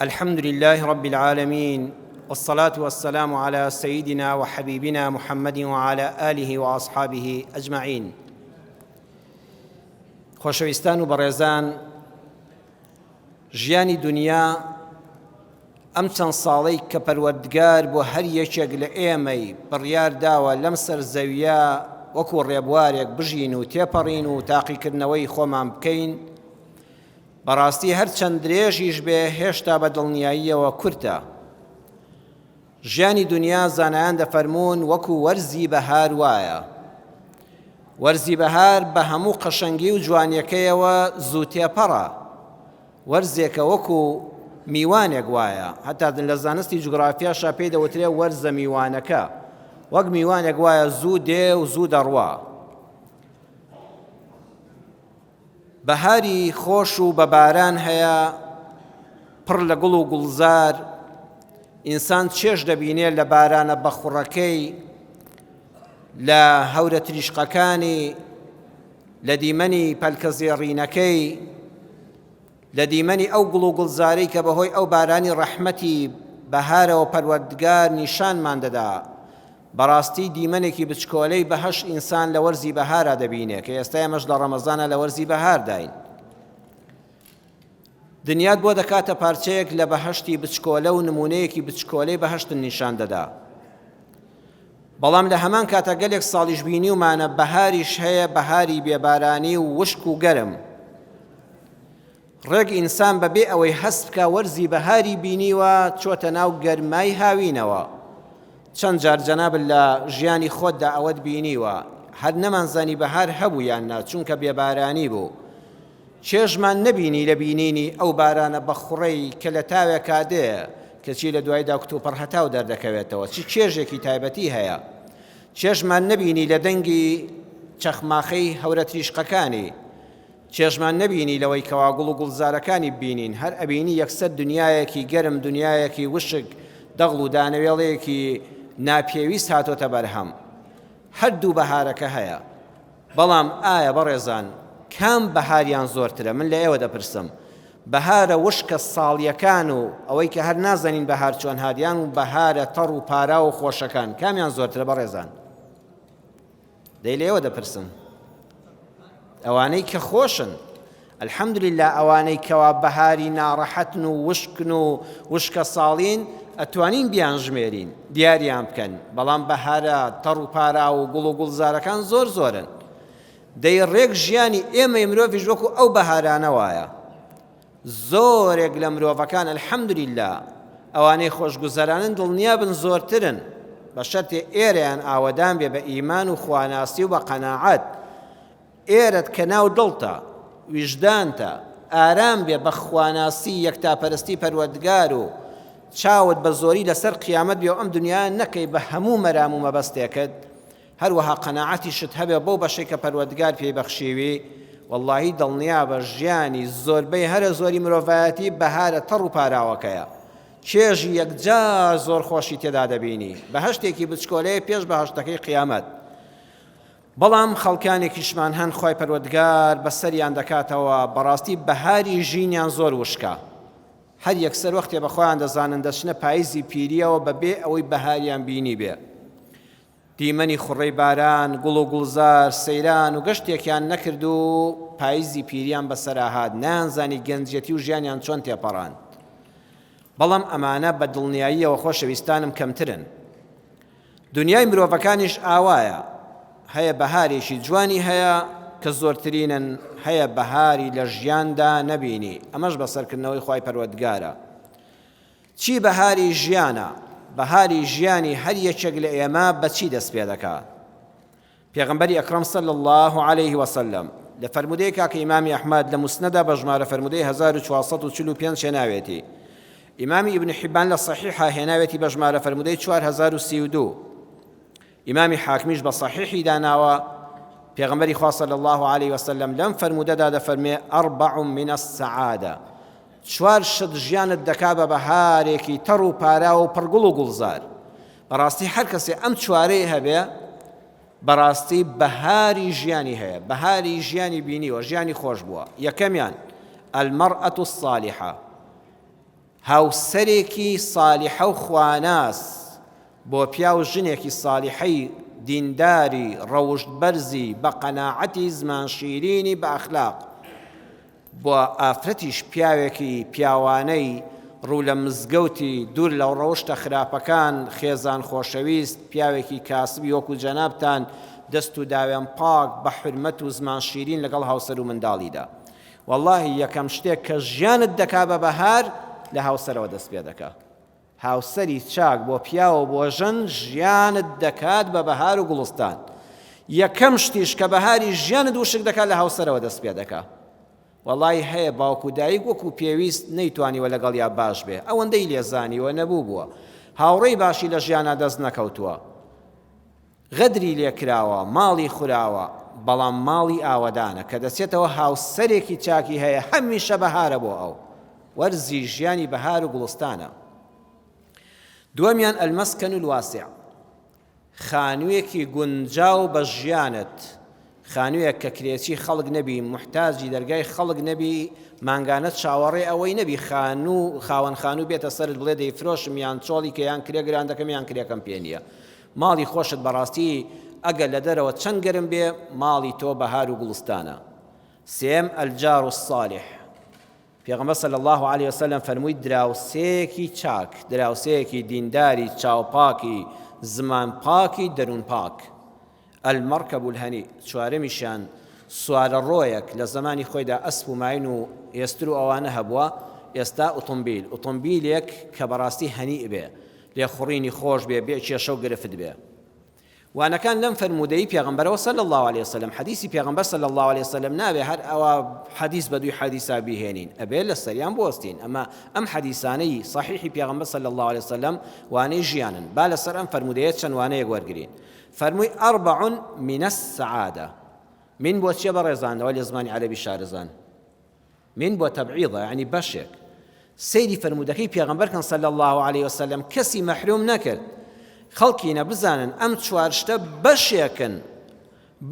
الحمد للە رب العالمین والصلاة والسلام على سيدنا وحبيبنا محمد وعلى آله وأصحابه أجمعين خۆشەویستان و بەڕێزان ژیانی دنیا ئەم چەند ساڵی کە پەروەردگار بۆ هەر یەکێک لە ئێمەی بڕیار داوە لەم سەر زەویە وەکو ڕێبوارێک بژین و تێپەڕین و تاقیکردنەوەی خۆمان بکەین بەڕاستی هەر چەند درێژیش بێ هێشتا بە دڵنیاییەوە کورتە. ژیانی دنیا زانایان دەفەرموون وەکو وەرزی بەهار وایە. وەرزی بەهار بە هەموو قەشەنگی و جوانیەکەیەوە زوو تێپەڕە. وەرزێکە وەکو میوانێک وایە هەتا لە زانستی جوگرافیاشا پێی دەوترێ وەرزە میوانەکە وەک میوانێک وایە زوو دێ و زوو دەڕوا بەهاری خۆش و بە باران هەیە پڕ لە گوڵ و گوڵزار، ئینسان چێژ دەبینێ لە بارانە بەخوڕەکەی، لە هەورە تریشقەکانی، لە دیمەنی پەلکە زێڕینەکەی، لە دیمەنی ئەو گوڵ و گوڵزارەی کە بەهۆی ئەو بارانی ڕەحمەتی بەهارەوە پەروەردگار نیشانمان دەدا بەڕاستی دیمەنێکی بچکۆلەی بەهەشت ئینسان لە وەرزی بەهارا دەبینێ کە ئێستا ئێمەش لە ڕەمەزانا لە وەرزی بەهارداین دنیات بۆ دەکاتە پارچەیەک لە بەهشتی بچکۆلە و نمونەیەکی بچکۆلەی بەهشتن نیشان دەدا بەڵام لە هەمان کاتە گەلێک ساڵیش بینی ومانە بەهاریش هەیە بەهاری بێبارانی و وشک و گەرم ڕێک ئینسان بە بێ ئەوەی هەست بکا وەرزی بەهاری بینیوە چۆتە ناو گەرمای هاوینەوە چەند جار جەناب لە ژیانی خۆتدا ئەوەت بینیوە هەر نەمانزانی بەهار هەبوو یان نا چونکە بێبارانی بوو چێژمان نەبینی لە بینینی ئەو بارانە بە خوڕەی کە لە تاوێکا دێ کەچی لە دوایدا کتوپڕ هەتاو دەردەکەوێتەوە چی چێژێکی تایبەتی هەیە چێژمان نەبینی لە دەنگی چەخماخەی هەورە تریشقەکانی چێژمان نەبینی لەوەی کەوا گوڵ و گوڵزارەکانی ببینین هەر ئەبینی یەکسەر دنیایەکی گەرم دنیایەکی وشک دەغڵ و دانەوێڵەیەکی ناپێویست هاتۆتە بەرهەم هەر دوو بەهارەکە هەیە بەڵام ئایا بەڕێزان کام بەهاریان زۆرترە من لە ئێوە دەپرسم بەهارە وشکە ساڵیەکان و ئەوەی کە هەر نازانین بەهار چۆن هادیان و بەهارە تەڕ و پارا و خۆشەکان کامیان زۆرترە بەڕێزان دەی لێوە دەپرسم ئەوانەی کە خۆشن الحەمدللا ئەوانەی کەوا بەهاری ناڕەحەتن و وشکن و وشکە ساڵین ئەتوانین بیان ژمێرین دیاریان بکەن بەڵام بەهارە تەڕ و پارا و گوڵ و گوڵزارەکان زۆر زۆرن دەی ڕێک ژیانی ئێمەی مرۆڤش وەکو ئەو بەهارانە وایە زۆرێک لە مرۆڤەکان الحمدللە ئەوانەی خۆشگوزەرانن دڵنیابن زۆرترن بە شەرتێ ئێرەیان ئاوەدان بێ بە ئیمان و خواناسی و بە قەناعەت ئێرەت کە ناو دڵتە ویژدانتە ئارام بێ بە خواناسی یەکتاپەرستی پەروەردگار و چاوت بە زۆری لەسەر قیامەت بێ و ئەم دنیا نەکەی بە هەموو مەرام و مەبەستێکت هەروەها قەناعەتیشت هەبێ بەو بەشەی کە پەروەردگار پێی بەخشیوی، وەڵاهی دڵنیابە ژیانی زۆربەی هەرە زۆری مرۆڤایەتی بەهارە تەڕ و پاراوەکەیە، چێژی یەکجار زۆر خۆشی تێدا دەبینی، بەهەشتێکی بچکۆلەیە پێش بەهەشتەکەی قیامەت، بەڵام خەڵکانێکیشمان هەن خوای پەروەردگار بەسەریان دەکاتەوە بەڕاستی بەهاری ژینیان زۆر وشکە، هەر یەکسەر وەختێ بەخۆیان دەزانن دەچنە پایزی پیرییەوە بەبێ ئەوەی بەهاریان بینیبێ، دیمەنی خوڕەی باران، گوڵ و گوڵزار، سەیران و گەشتێکیان نەکرد و پایزی پیریان بەسەرا هات، نەیانزانی گەنجیەتی و ژیانیان چۆن تێپەڕاند. بەڵام ئەمانە بە دڵنیاییەوە خۆشەویستانم کەمترن. دونیای مرۆڤەکانیش ئاوایە، هەیە بەهارێکی جوانی هەیە کە زۆرترینن، هەیە بەهاری لە ژیاندا نەبینی، ئەمەش بە سەرکردنەوەی خوای پەروەردگارە. چی بەهاری ژیانە؟ بەهاری ژیانی هەر یەکێک لە ئێمە بە چی دەست پێ دەکا؟ پێغەمبەری ئەکرەم صلی اللە علیه وسلم لە فەرموودەیەکا کە ئیمامی ئەحمەد لە موسنەدا بە ژمارە فەرموودەی 1445 هێناوێتی ئیمامی ئیبن حیبان لە صحیحا هێناوێتی بە ژمارە فەرموودەی 4032 ئیمامی حاکمیش بە سەحیحی داناوە، پێغەمبەری خوا صلی اللە علیە وسلم لەم فەرموودەدا دەفەرموێ، اربع من السعادە، چوار شت ژیانت دەکا بە بەهارێکی تەڕ و پاراو و پڕ گوڵ و گوڵزار، بەڕاستی هەر کەسێ ئەم چوارەی هەبێ بەڕاستی بەهاری ژیانی هەیە، بەهاری ژیانی بینیوە، ژیانی خۆش بووە، یەکەمیان المرأة الصالحە، هاوسەرێکی سالیحە و خواناس بۆ پیاو ژنێکی سالیحەی دینداری ڕەوشت بەرزی بە قەناعەتی زمان شیرینی بە ئەخلاق بۆ ئافرەتیش پیاوێکی پیاوانەی ڕوو لە مزگەوتی دوور لە ڕەوشتە خراپەکان خێزان خۆشەویست پیاوێکی کاسبی وەکو جەنابتان دەست و داوێن پاک بە حورمەت و زمان شیرین لەگەڵ هاوسەر و منداڵیدا وەڵاهی یەکەم شتێک کە ژیانت دەکا بە بەهار لە هاوسەرەوە دەست پێ دەکا هاوسەری چاک بۆ پیاوە بۆ ژن ژیانت دەکات بە بەهار و گوڵستان یەکەم شتیش کە بەهاری ژیانت وشک دەکات لە هاوسەرەوە دەست پێ دەکا وەڵی هەیە باوک و دایک وەکو پێویست نەیتوانیوە لەگەڵ یا باش بێ ئەوەندەی لێزانیوە نەبوو بووە هاوڕێی باشی لە ژیانە دەست نەکەوتووە غەدری لێکراوە، ماڵی خوراوە، بەڵام ماڵی ئاوەدانە، کە دەچێتەوە هاوسەرێکی چاکی هەیە هەمیشە بەهارە بۆ ئەو، وەرزی ژیانی بەهار و گوڵستانە. دووەمیان، المسکن الواسع، خانوویەکی گونجاو بە ژیانت، خانوویەک کە کرێچی خەڵک نەبی، موحتاجی دەرگای خەڵک نەبی، مانگانە چاوەڕێ ئەوەی نەبی خانوو، خاوەن خانوو بێتە سەرت بڵێ دەیفرۆشم یان چۆڵی کە یان کرێ گران دەکەم یان کرێکەم پێ نییە. ماڵی خۆشت بەڕاستی ئەگەر لە دەرەوە چەند گەرم بێ ماڵی تۆ بەهار و گوڵستانە سێم، الجار الصالح، پێغەمبەر صلی اللە علیە وسلم فەرمووی دراوسێکی چاک دراوسێکی دینداری چاوپاکی زمان پاکی دەروون پاک المرکب الهنی چوارمیشان سوارە ڕۆیەک لە زمانی خۆیدا ئەسپ و ماین و ئێستر و ئەوانە هەبووە ئێستا ئۆتۆمبیل ئۆتۆمبیلێک کە بەڕاستی هەنی بێ لێخوڕینی خۆش بێ بێ کێشە و گرفت بێ وانەکان لەم فەرموودەی پێغەمبەرەوە صلی اللە علیە وسلم حەدیسی پێغەمبەر صلی اللە علیە وسلم نابێ هەر ئەوە حەدیس بە دووی حەدیسا بیهێنین ئەبێ لە سەریان بوەستین ئەمە ئەم حەدیسانەی صحیحی پێغەمبەر صلی اللە علیە وسلم وانەی ژیانن با لەسەر ئەم فەرموودەیە چەند وانەیەک وەرگرین فەرمووی ئەربع من السعادە من بۆ چیە بە ڕێزانەوە لە زمانی عەربی شارەزان من بۆ تەبعیضە یەعنی بەشێک سەیری فەرموودەکەی پێغەمبەر کەن صلی اللە علیە وسلم کەسی مەحروم نەکرد خەڵکینە بزانن ئەم چوار شتە بەشێکن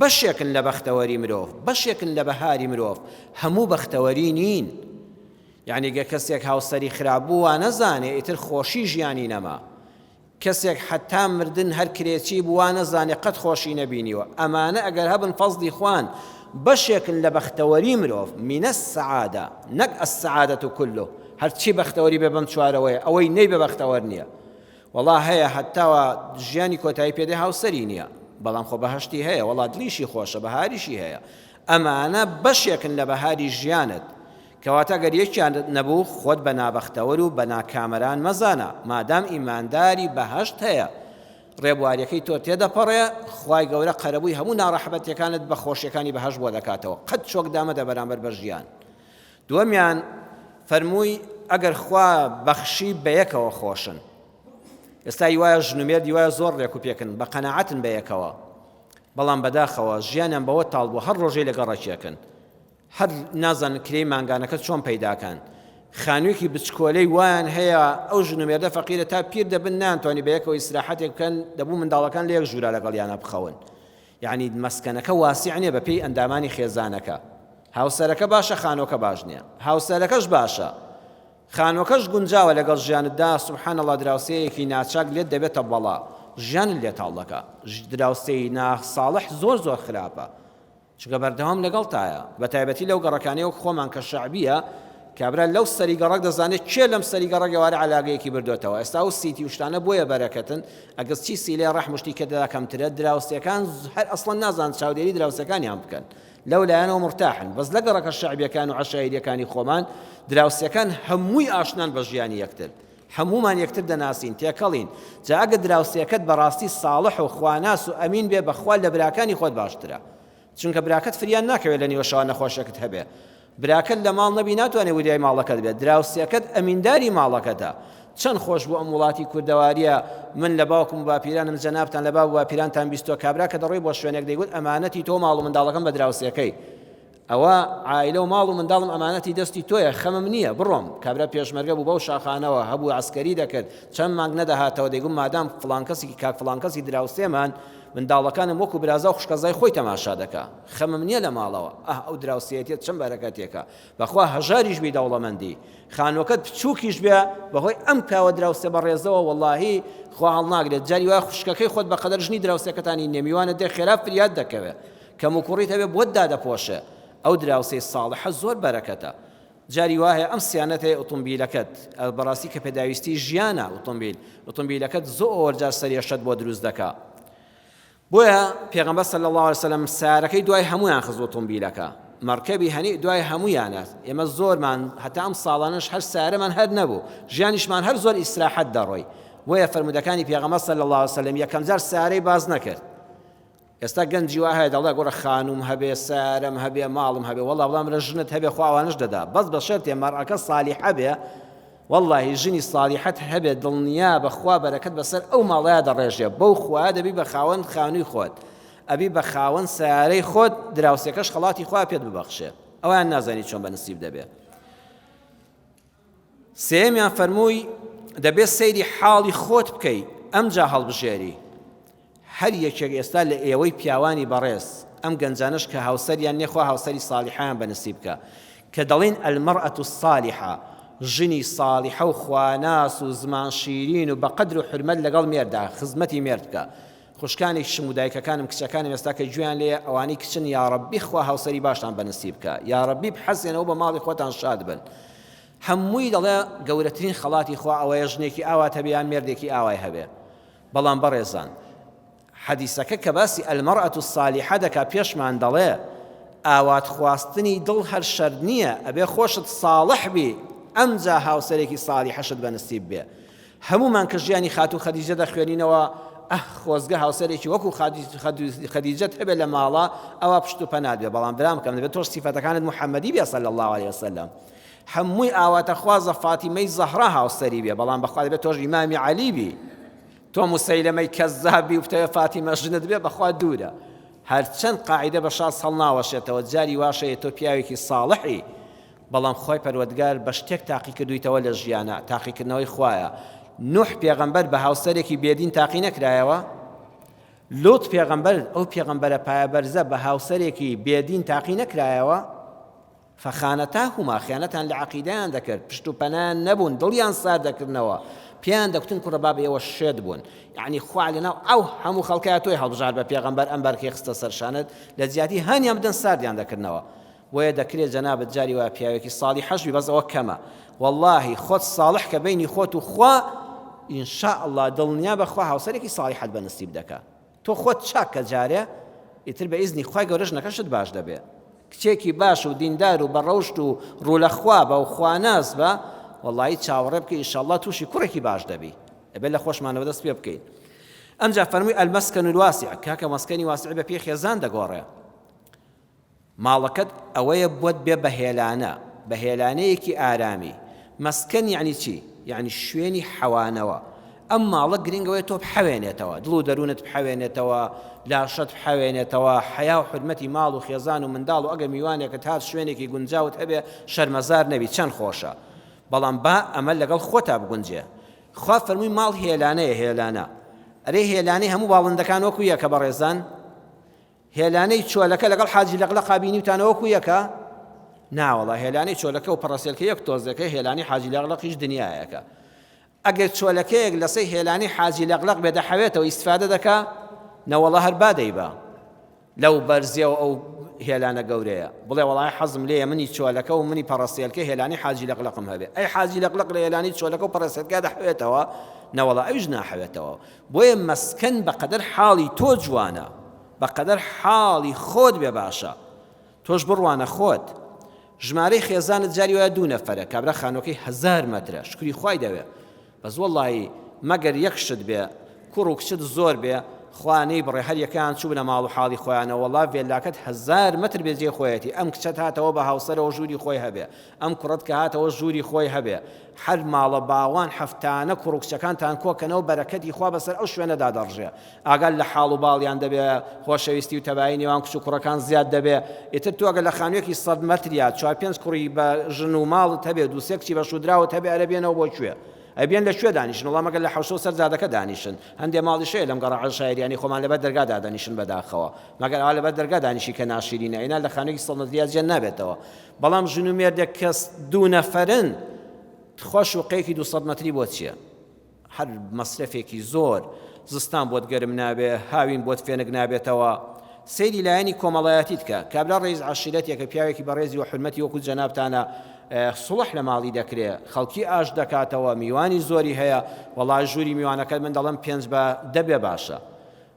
بەشێکن لە بەختەوەری مرۆڤ بەشێکن لە بەهاری مرۆڤ هەموو بەختەوەری نین یعنی گە کەسێک هاوسەری خراپ بوو وا نەزانێ ئیتر خۆشی ژیانی نەما کەسێک حەتا مردن هەر کرێچی بوو وا نەزانێ قەت خۆشی نەبینیوە ئەمانە ئەگەر هەبن فەزڵی خوان بەشێکن لە بەختەوەری مرۆڤ من السعادە نەک السعادەتو کلو هەرچی بەختەوەری بێ بەم چوارەوەیە ئەوەی نەیبێ بەختەوەر نییە وەڵا هەیە هەتاوە ژیانی کۆتایی پێدێ هاوسەری نییە بەڵام خۆ بەهەشتی هەیە وەڵا دڵیشی خۆشە بەهاریشی هەیە ئەمانە بەشێکن لە بەهاری ژیانت کەواتە گەر یەکیانت نەبوو خۆت بە نابەختەوەر و بە ناکامەران مەزانە، مادام ئیمانداری بەهەشت هەیە ڕێبواریەکەی تۆ تێدەپەڕێ، خوای گەورە قەرەبووی هەموو ناڕەحەبەتیەکانت بە خۆشیەکانی بەهەشت بۆ دەکاتەوە، قەت چۆک دامەدە بەرامبەر بە ژیان. دووەمیان فەرمووی ئەگەر خوا بەخشی بەیەکەوە خۆشن. ئێستای وایە ژن و مێردی وایە زۆر ڕێک و پێکن بە قەناعەتن بەیەکەوە، بەڵام بەداخەوە ژیانیان بەوە تاڵ بووە هەر ڕۆژەی لەگەڵ ڕەکیەکن، هەر نازانن کرێی مانگانەکە چۆن پەیداکەن خانوویەکی بچکۆلەی وایان هەیە ئەو ژن و مێردە فەقیرە تا پیر دەبن نانتوانی بە یەکەوە ئیسراحەتێک بکەن دەبوو منداڵەکان لە یەک ژوورا لەگەڵ یانە بخەون یعنی مەسکەنەکە واسیع نییە بە پێی ئەندامانی خێزانەکە هاوسەرەکە باشە خانۆکە باش نییە هاوسەرەکەش باشە خانۆکەش گونجاوە لەگەڵ ژیانتدا سبحان الله دراوسەیەکی ناچاک لێت دەبێتە بەڵا ژیان لێ تاڵ دەکا دراوسێی ناخ ساڵح زۆر زۆر خراپە چونکە بەردەوام لەگەڵتایە بەتایبەتی لەو گەڕەکانەی وەک خۆمان کە شەعبیە کابرا لەو سەری گەڕەک دەزانێت کێ لەم سەری گەڕەک ئێوارە عەلاگەیەکی بردۆتەوە ئێستا و سیتی و شتانە بۆیە بەرەکەتن ئەگەر چی سیلێ ڕەحم شتی کە دەدا کەمترە دراوسێکان هەر ئەسڵەن نازان چاودێری دراوسەکانیان بکەن لەو لایەنەوە مرتاحن بەس لە گەڕەکە شەعبیەکان و عەشایریەکانی خۆمان دراوسەکان هەمووی ئاشنان بە ژیانی یەکتر هەموومان یەکتر دەناسین تێکەڵین جا ئەگەر دراوسێکەت بەڕاستی ساڵح و خواناس و ئەمین بێ بەخوا لە براکانی خۆت باشترە چونکە براکەت فریان ناکەوێت لە نیوە شەوە نەخۆشێکت هەبێ براکەت لە ماڵ نەبی ناتوانێت وریای ماڵەکەت بێت دراوسێکەت ئەمینداری ماڵەکەتە چەند خۆش بوو ئەم وڵاتی کوردەواریە من لە باوکم و باپیرانم جەنابتان لە باب باپیرانتان بیستۆ کابرا کە دەڕۆی بۆ شوێنێک دەیگوت ئەمانەتی تۆ ماڵ و منداڵەکەم بە دراوسێکەی ئەوە عایلە و ماڵ و منداڵم ئەمانەتی دەستی تۆیە خەمم نییە بڕۆم، کابرا پێشمەرگە بوو بەو شاخانەوە هەبوو عەسکەری دەکرد، چەند مانگ نەدەهاتەوە دەیگوت مادام فڵان کەسێکی کاک فڵان کەسی دراوسێمان منداڵەکانم وەکو برازا و خوشکەزای خۆی تەماشا دەکا خەمم نییە لە ماڵەوە، ئاه ئەو دراوسێیەتیەت چەند بەرەکەتێکە بەخوا هەژاریش بی دەوڵەمەندی خانووەکەت بچووکیش بێ بەهۆی ئەم کاوە دراوسێ بەڕێزەوە وەڵاهی خوا هەڵناگرێت جاری وا خوشکەکەی خۆت بەقەدەر ژنی دراوسێکەتانی نێمیوانە دێ خێرا فریات دەکەوێت کەموکوڕیت ئەوێ بۆت دادەپۆشێ ئەو دراوسێی ساڵحە زۆر بەرەکەتە جاری واهەیە ئەم سیانەتەی ئۆتۆمبیلەکەت بەڕاستی کە پێداویستی ژیانە ئۆتۆمبیل ئۆتۆمبیلەکەت زۆر جار سەرێشەت بۆ دروست دەکا بۆیە پێغەمبەر صلی الله علیه وسلم سارەکەی دوای هەمویان خز ئۆتۆمبیلەکە مەرکەبی هەنی دوای هەمویانە ئێمە زۆرمان هەتا ئەم ساڵانش هەر سارەمان هەر نەبوو ژیانیشمان هەر زۆر ئیسراحەت دەڕۆی بۆیە فرمودەکانی پێغەمبەر صلی الله علیه وسلم یەکەم جار سارەی باز نەکرد ئێستا گەنجی وا هەیە دەڵێ گوڕە خانووم هەبێ سەیارەم هەبێ ماڵم هەبێ وەڵا بڵام برا ژنت هەبێ خوا ئەوانەش دەدا بەس بە شەرتێ مەرئەکە سالیحە بێ وەڵاهی ژنی سالیحەت هەبێ دڵنیابە خوا بەرەکەت بەسەر ئەو ماڵەیە دەڕێژێ بەو خوایە دەبی بە خاوەن خانووی خۆت ئەبی بە خاوەن سەیارەی خۆت دراوسێکەش خەڵاتی خوا پێت ببەخشێ ئەویان نازانی چۆن بە نسیب دەبێ سێیەمیان فەرمووی دەبێت سەیری حاڵی خۆت بکەی ئەمجا هەڵبژێری هەر یەکێک ئێستا لە ئێوەی پیاوانی بەڕێز ئەم گەنجانش کە هاوسەریان نێخوا هاوسەری ساڵحیان بەنسی بکە کە دەڵین ئەلمەڕەت و ساڵحە ژنی ساڵحە و خواناس و زمان شیرین و بەقەدر و حرمەت لەگەڵ مێردا خزمەتی مێرد بکە خوشکانی کچم و دایکەکانم کچەکانم ئێستا کە گوێیان لێیە ئەوانەی کچن یاڕەبی خوا هاوسەری باشتان بەنسیب بکا یاڕەبی بحەسێنەوە بە ماڵی خۆتان شاد بن هەمووی دەڵێ گەورەترین خەڵاتی خوا ئەوەیە ژنێکی ئاوات هەبێ یان مێردێکی ئاوای هەبێ بەڵام بەڕێزان حەدیسەکە کە باسی ئەلمەڕەت و سالیحە دەکا پێشمان دەڵێ ئاوات خواستنی دڵ هەر شەر نییە ئەبێ خۆشت ساڵح بی ئەمجا هاوسەرێکی ساڵی حەشت بە نسیب بێ هەموومان کە ژیانی خاتوو خەدیجە دەخوێنینەوە، ئەه خۆزگە هاوسەرێکی وەکو خەدیجەت هەبێت لە ماڵە ئەوا پشت و پەنات بێ بەڵام برامکەم دەبێت تۆش سیفەتەکانت محەممەدی بێ صلی الله علیه وسلم هەمووی ئاواتەخوازە فاتیمەی زەهرا هاوسەری بێ بەڵام بەخوا دەبێت تۆش ئیمامی عەلی بی تۆ مسەیلەمەی کەزابی و بتەوێت فاتیمە ژنت بێ بەخوا دوورە هەرچەند قاعدە بە شاز هەڵناوەشێتەوە جاری واشەیە تۆ پیاوێکی ساڵحی بەڵام خوای پەروەدگار بە شتێک تاقی کردوویتەوە لە ژیانا، تاقیکردنەوەی خوایە، نوح پێغەمبەر بە هاوسەرێکی بێدین تاقی نەکرایەوە؟ لوط پێغەمبەر ئەو پێغەمبەرە پایەبەرزە بە هاوسەرێکی بێدین تاقی نەکرایەوە؟ فەخانەتاهما خیانەتان لە عەقیدەیان دەکرد پشت و پەنایان نەبوون دڵیان سار دەکردنەوە پێیان دەکوتن کوڕە باب ئێوە شێت بوون یعنی خوا لەناو ئەو هەموو خەڵکای تۆی هەڵبژار بە پێغەمبەر ئەم بەرکەی خستە سەرشانت لە جیاتی هانیان بدەن ساردیان دەکردنەوە بۆیە دەکرێ جەنابت جاری وایە پیاوێکی ساڵیحەش بی بەس ئەوە کەمە وەڵاهی خۆت ساڵح کە بینی خۆت و خوا ان شاء الله دڵنیا بە خوا هاوسەرێکی ساڵیحەت بە نسیب دەکا تۆ خۆت چاک کە جارێ ئیتر بە ئیزنی خوای گەورە ژنەکەشت باش دەبێ کچێکی باش و دیندار و بەڕەوشت و ڕوو لە خوا بە و خواناس بە وەڵی چاوەڕێ بکە ئیشەڵڵا تووشی کوڕێکی باش دەبی ئەبێ لە خۆشمانەوە دەست پێ بکەین ئەمجا فەرمووی ئەلمەسکەن الواسع کاکە مەسکەنی واسعی بە پێی خێزان دەگۆڕێ ماڵەکەت ئەوەیە بۆت بێ بەهێلانە، بەهێلانەیەکی ئارامی، مەسکەن یەعنی چی؟ یەعنی شوێنی حەوانەوە، ئەم ماڵە گرنگ ئەوەیە تۆ بحەوێنێتەوە، دڵ و دەروونت بحەوێنێتەوە، لاشەت بحەوێنێتەوە، حەیا و حورمەتی ماڵ و خێزان و منداڵ و ئەگەر میوانێکت هات شوێنێکی گونجاوت هەبێ شەرمەزار نەبی چەند خۆشە، بەڵام با ئەمە لەگەڵ خۆتا بگونجێ، خوا فەرمووی ماڵ هێلانەیە هێلانە، ئەرێ هێلانەی هەموو باڵندەکان وەکو یەکە بەڕێزان؟ هێلانەی چۆلەکە لەگەڵ حاجی لەقلەقا بینیوتانە وەکو یەکە؟ ناوەڵا هێلانەی چۆلەکە و پەڕەسێلکە یەک تۆزێکە هێلانی حاجی لەقلەقیش دنیایەکە ئەگەر چۆلەکەیەک لەسەی هێلانی حاجی لەقلەق بێ دەحەوێتەوە ئیسفادە دەکا نەوەڵا هەر بادەی بە لەو بەرزیەوە ئەو هێلانە گەورەیە بڵێ وڵای حەزم لێ منی چۆلەکە و منی پەڕەسێلکە هێلانی حاجی لەقلقم هەبێ ئەی حاجی لەقلق لە هێلانی چۆلەکە و پەڕەسێلکە دەحوێتەوە نەوەڵا ئەوش ناحەوێتەوە بۆیە مەسکەن بەقەدەر حاڵی تۆ جوانە بەقەدەر حاڵی خۆت بێ باشە تۆش بڕوانە خۆت ژمارەی خێزانت جاری وایە دوو نەفەرە کابرا خانوەکەی هەزار مەترە شکری خوای دەوێ بەس وەڵی مەگەر یەک شت بێ کوڕ و کچت زۆر بێ خوانەی بڕێ هەر یەکان چوو بنە ماڵ و حاڵی خۆیانە وەڵا ڤێلاکەت هزار متر بێجێ خۆیەتی ئەم کچەت هاتەوە بە هاوسەرەوە ژووری خۆی هەبێ ئەم کوڕەت کە هاتەوە ژووری خۆی هەبێ هەر ماڵە باوان حەفتانە کوڕ و کچەکانتان کۆ کەنەوە بەرەکەتی خوا بەسەر ئەو شوێنەدا دەڕژێ ئاگات لە حاڵ و باڵیان دەبێ خۆشەویستی و تەبایی نێوان کچ و کوڕەکان زیاد دەبێ ئیتر تۆ گەر لە خانوویەکی سەد مەتر یا چوار پێنج کوڕی بە ژن و ماڵت هەبێ دوو سێ کچی بە شوودراوت هەبێ ئەرێ بێنەوە بۆ کوێ ئەبێن لە کوێ دانیشن وەڵا مەگەر لە حەوشە و سەر جادەکە دانیشن هەندێ ماڵیش هەیە لەم گەڕە عەشایریانەی خۆمان لەبەر دەرگا دادەنیشن بەداخەوە مەگەر ئەوا لەبەر دەرگا دانیشی کە ناشیرینە ئینا لە خانوویەکی سەد مەترییا جێ نابێتەوە بەڵام ژن و مێردێک کە دوو نەفەرن تخوا شوقەیەکی دوو سەد مەتری بۆ چییە هەر مەسرەفێکی زۆر زستان بۆت گەرم نابێ هاوین بۆت فێنک نابێتەوە سەیری لایەنی کۆمەڵایەتی بکە کابرا ڕێز عشیرەتێکە پیاوێکی بەڕێزی و حرمەتی وەکو جەنابتانە سڵح لە ماڵی دەکرێ خەڵکی ئاش دەکاتەوە میوانی زۆری هەیە وەڵا ژووری میوانەکە من دەڵم پێنج بە دەبێ باشە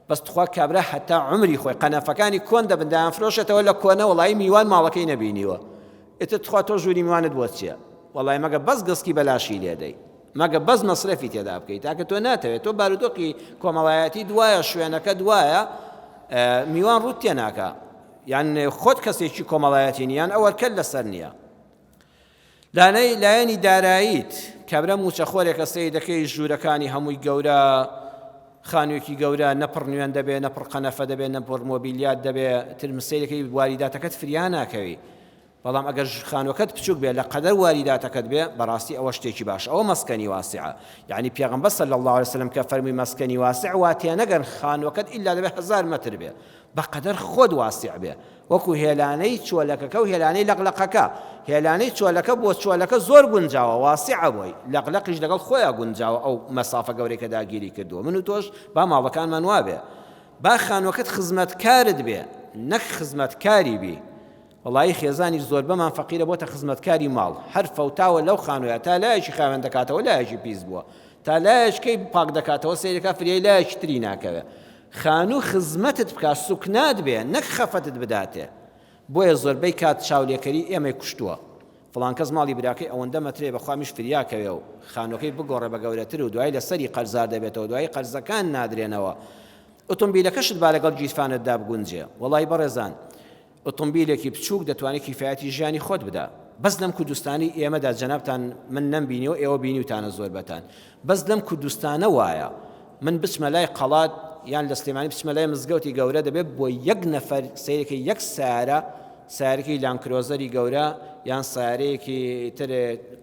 بەس تخوا کابرا هەتا عەمری خۆی قەنەفەکانی کۆن دەبن دایانفرۆشێتەوە لە کۆنە وەڵایی میوان ماڵەکەی نەبینیوە ئیتر تخوا تۆ ژووری میوانت بۆ چیە وەڵای مەگە بەس گسکی بەلاشی لێدەی مەگە بەس مەسرەفی تێدا بکەیت تاکە تۆ ناتەوێت تۆ بارودۆقی کۆمەڵایەتی دوایە شوێنەکە دوایە میوان ڕوت تێناکە یان خۆت کەسێکی کۆمەڵایەتی نیان ئەوەرکەل لەسەر نییە لانەی لایەنی داراییت کابرا مووچەخۆرێکە سەیر دەکەی ژوورەکانی هەمووی گەورە خانوویەکی گەورە نە پڕ نوێن دەبێ نە پڕ قەنەفە دەبێ نە پڕ مۆبیلیات دەبێ تر سەیرەکەی واریداتەکەت فریا ناکەوی بەڵام ئەگەر خانوەکەت بچوک بێ لە قەدەر واریداتەکەت بێ بەڕاستی ئەوە شتێکی باش ئەوە مەسکەنی واسعە یعنی پێغمبەر صلی الله عليه وسلم کە فەرمی مەسکەنی واسع واتێنەگەن خانوەکەت ئللا دەبێ هزار متر بێ بەقەدەر خۆت واسع بێ وەکو هێلانەی چۆلەکەکە و هێلانەی لەقلەقەکە، هێلانەی چۆلەکە بۆ چۆلەکە زۆر گونجاوە، واسعە بۆی، لەقلەقیش لەگەڵ خۆیا گونجاوە ئەو مەسافە گەورەی کە داگیری کردووە، من و تۆش با ماڵەکانمان وابێ، با خانووەکەت خزمەتکارت بێ نەک خزمەتکاری بی، وەڵایی خێزانی زۆربەمان فەقیرە بۆتە خزمەتکاری ماڵ، هەر فەوتاوە لەو خانوویە تا لایەکی خاوێن دەکاتەوە لایەکی پیس بووە، تا لایەکەی پاک دەکاتەوە سەیرەکە فریای لایەکی تری ناکەوێ، خانوو خزمەتت بکات سوکنات بێ نەک خەفەتت بداتێ بۆیە زۆربەی کات چاولێکەری ئێمەی کوشتووە فڵان کەس ماڵی براکەی ئەوەندە مەترەیە بەخوا میش فریا کەوێ و خانووەکەی بگۆڕێ بە گەورەتر و دوای لەسەری قەرزار دەبێتەوە دوای قەرزەکان نادرێنەوە ئۆتۆمبیلەکەشت با لەگەڵ گیرفانتدا بگونجێ وەڵای بەڕێزان ئۆتۆمبیلێکی بچوک دەتوانێ کیفایەتی ژیانی خۆت بدا بەس لەم کوردستانی ئێمەدا جەنابتان من نەم بینیەوە ئێوە بینیوتانە زۆربەتان بەس لەم کوردستانە وایە من بچمە لای قەڵات یان لە سلێمانی بچمە لای مزگەوتی گەورە دەبێت بۆ یەک نەفەر سیرەکە یەک سارە سارکی لانکرۆزەری گەورە یان سارەیەکی تر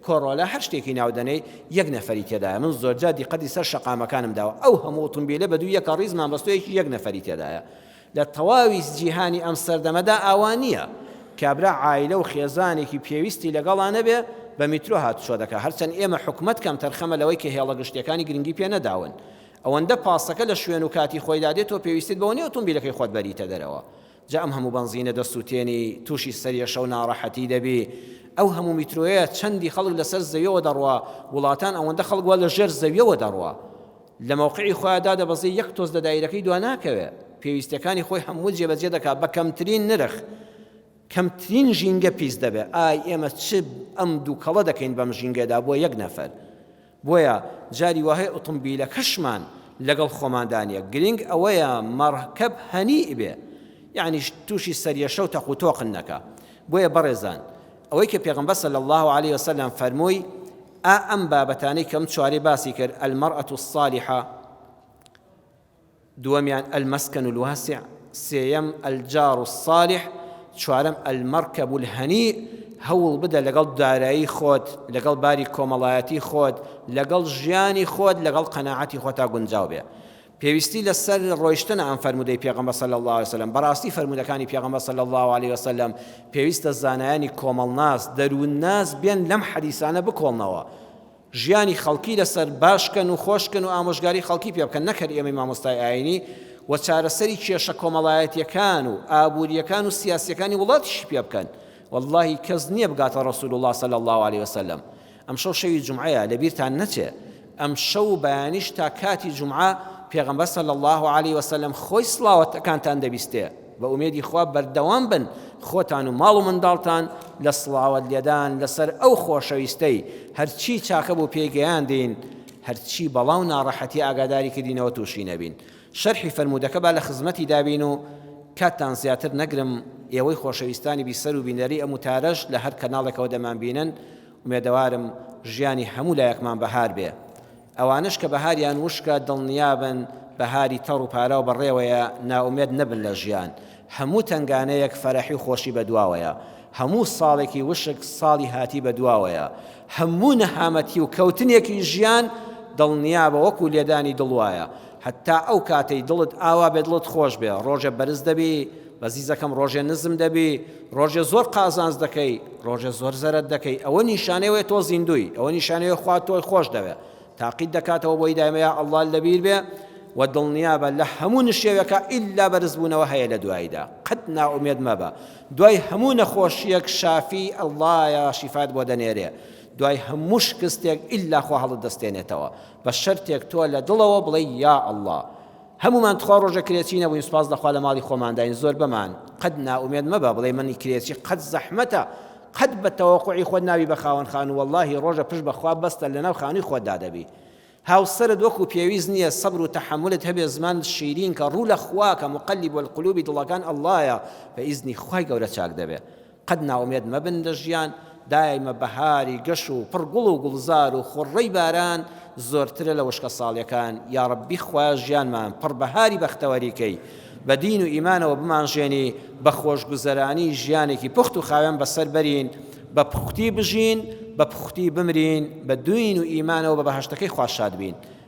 کۆڕۆلا هەر شتێکی ناودەنەی یەک نەفەری تێدایە من زۆرجا دیقەتی سەر شەقامەکانم داوە ئەو هەموو ئۆتۆمبیلە بە دوو یەکە ڕیزمان بەستۆیەکی یەک نەفەری تێدایە لە تەواوی جیهانی ئەم سەردەمەدا ئاوا نییە، کابرا عایلە و خێزانێکی پێویستی لەگەڵا نەبێ بە میترۆ هاتوچۆ دەکا، هەرچەند ئێمە حکومەت کەمتەرخەمە لەوەی کە هێڵە گشتییەکانی گرنگی پێ نەداون. ئەوەندە پاسەکە لە شوێن و کاتی خۆیدا دێ تۆ پێویستیت بەوە نییە ئۆتۆمبیلەکەی خۆت بەریتە دەرەوە. جا ئەم هەموو بەنزینە دەسوتێنی، تووشی سەریەشە و ناڕەحەتی دەبی. ئەو هەموو میترۆیە چەندی خەڵک لەسەر زەویەوە دەڕوا، وڵاتان ئەوەندە خەڵک وا لەژێر زەویەوە دەڕوا. لە مەوقعی خۆیا دادەبەزێ یەک تۆز لە دایرەکەی دوا ناکەوێ پێویستیەکانی خۆی هەموو جێبەجێ دەکا بە کەمترین نرخ کەمترین ژینگە پیس دەبێ ئای ئێمە چ ئەم دوکەڵە دەکەین بەم ژینگەدا بۆ یەک نەفەر بۆیە جاری واهەیە ئوتومبیلەکەشمان لەگەڵ خۆماندا نیە گرینگ ئەوەیە مەڕکەب هەنیئ بێ یەعنی توشی سەریەشە و تەق و تۆقن نەکا بۆیە بەڕێزان ئەوەی کە پێغەمبەر صلی اللە علیە وسلم فەرمووی ئا ئەم بابەتانەی کەم چوارەی باسی کرد، المرأة الصالحە، دووەمیان المسکن الواسع، سێیەم الجار الصالح، چوارەم المرکب الهنیء، هەوڵ بدە لەگەڵ دارایی خۆت، لەگەڵ باری کۆمەڵایەتی خۆت، لەگەڵ ژیانی خۆت، لەگەڵ قەناعەتی خۆتا گونجاو بێ. پێویستی لە سەر ڕۆیشتنە ئەم فەرموودەی پێغەمبەر صلی اللە علیە وسلم بەڕاستی فەرموودەکانی پێغەمبەر صلی اللە علیە وسلم پێویستە زانایانی کۆمەڵناس دەروون ناس بێن لەم حەدیسانە بکۆڵنەوە ژیانی خەڵکی لەسەر باشکەن و خۆشکەن و ئامۆژگاری خەڵکی پێ بکەن نەکەر ئێمەی مامۆستای ئاینی و چارەسەری کێشە کۆمەڵایەتیەکان و ئابووریەکان و سیاسیەکانی وڵاتیشی پێ بکەن واللهی کەس نییە بگاتە ڕسول الله صلی الله عليه وسلم ئەمشەو شەوی جومعەیە لەبیرتان نەچێ ئەمشەو و بەیانیش تا کاتی جومعە پێغەمبەر صلی اللە علیە وسلم خۆی سڵاوەتەکانتان دەبیستێ بە ئومێدی خوا بەردەوام بن خۆتان و ماڵ و منداڵتان لە سڵاوەت لێدان لەسەر ئەو خۆشەویستەی هەرچی چاکە بۆ پێگەیاندین هەرچی بەڵاو ناڕەحەتی ئاگاداری کردینەوە تووشی نەبین شەرحی فەرموودەکە با لە خزمەتی دابین و کاتتان زیاتر نەگرم ئێوەی خۆشەویستانی بیسەر و بینەری ئەم وتارەش لە هەر کەناڵێکەوە دەمانبینن ئومێدەوارم ژیانی هەموو لایەکمان بەهار بێ. ئەوانەش کە بەهاریان وشکە دڵنیابن بەهاری تەڕ و پاراو بەڕێوەیە نائومێد نەبن لە ژیان. هەموو تەنگانەیەک فەرەحی و خۆشی بە دواوەیە. هەموو ساڵێکی وشک ساڵی هاتی بە دواوەیە. هەموو نەهامەتی و کەوتنێکی ژیان دڵنیابە وەکوو لێدانی دڵ وایە. هەتا ئەو کاتەی دڵت ئاوا بێ دڵت خۆش بێ. ڕۆژێ بەرز دەبی بە زیزەکەم ڕۆژێ نزم دەبی ڕۆژێ زۆر قازانج دەکەی ڕۆژێ زۆر زەرەت دەکەی ئەوە نیشانەوەی تۆ زیندوی ئەوە نیشانەوەی خوا تۆی خۆش دەوێ تاقیت دەکاتەوە بۆی دایمەیە ئەڵا لەبیر بێ و دڵنیا بە لە هەموو نشێوەکە ئللا بەرزبوونەوە هەیە لە دواییدا قەت ناومێت مەبە دوای هەموو نەخۆشیەک شافی ئەڵایە شیفات بۆ دەنێرێ دوای هەموو شکستێک ئللا خۆ هەڵت دەستێنێتەوە بە شەرتێک تۆ لە دڵەوە بڵێ یا ئەڵڵا هەموومان تخوا ڕۆژە کرێچی نەبووین سوپاس لە خوا لە ماڵی خۆمانداین زۆربەمان قەت نائومێد مەبە بڵێی من کرێچی قەت زەحمەتە قەت بە تەوەقوعی خۆت نابی بە خاوەن خانوو وەڵاهی ڕۆژە پشت بە خوا بەستە لەناو خانووی خۆتدا دەبی هاوسەرت وەکو پێویست نییە سەبر و تەحەمولت هەبێ زمان شیرین کە ڕوو لە خوا کە مقلب القلوبی دڵەکان اللە یە بە ئیزنی خوای گەورە چاک دەبێ قەت نائومێد مەبن لە ژیان، دایمە بەهاری گەش و پڕ گوڵ و گوڵزار و خوڕڕەی باران زۆرترە لە وشکە ساڵیەکان، یاڕەبی خوایە ژیانمان پڕ بەهاری بەختەوەری کەی، بە دین و ئیمانەوە بمانژێنی، بە خۆشگوزەرانی ژیانێکی پوخت و خاوێن بەسەر بەرین، بە پوختی بژین، بە پوختی بمرین، بە دوین و ئیمانەوە بە بەهەشتەکەی خوا شاد بین.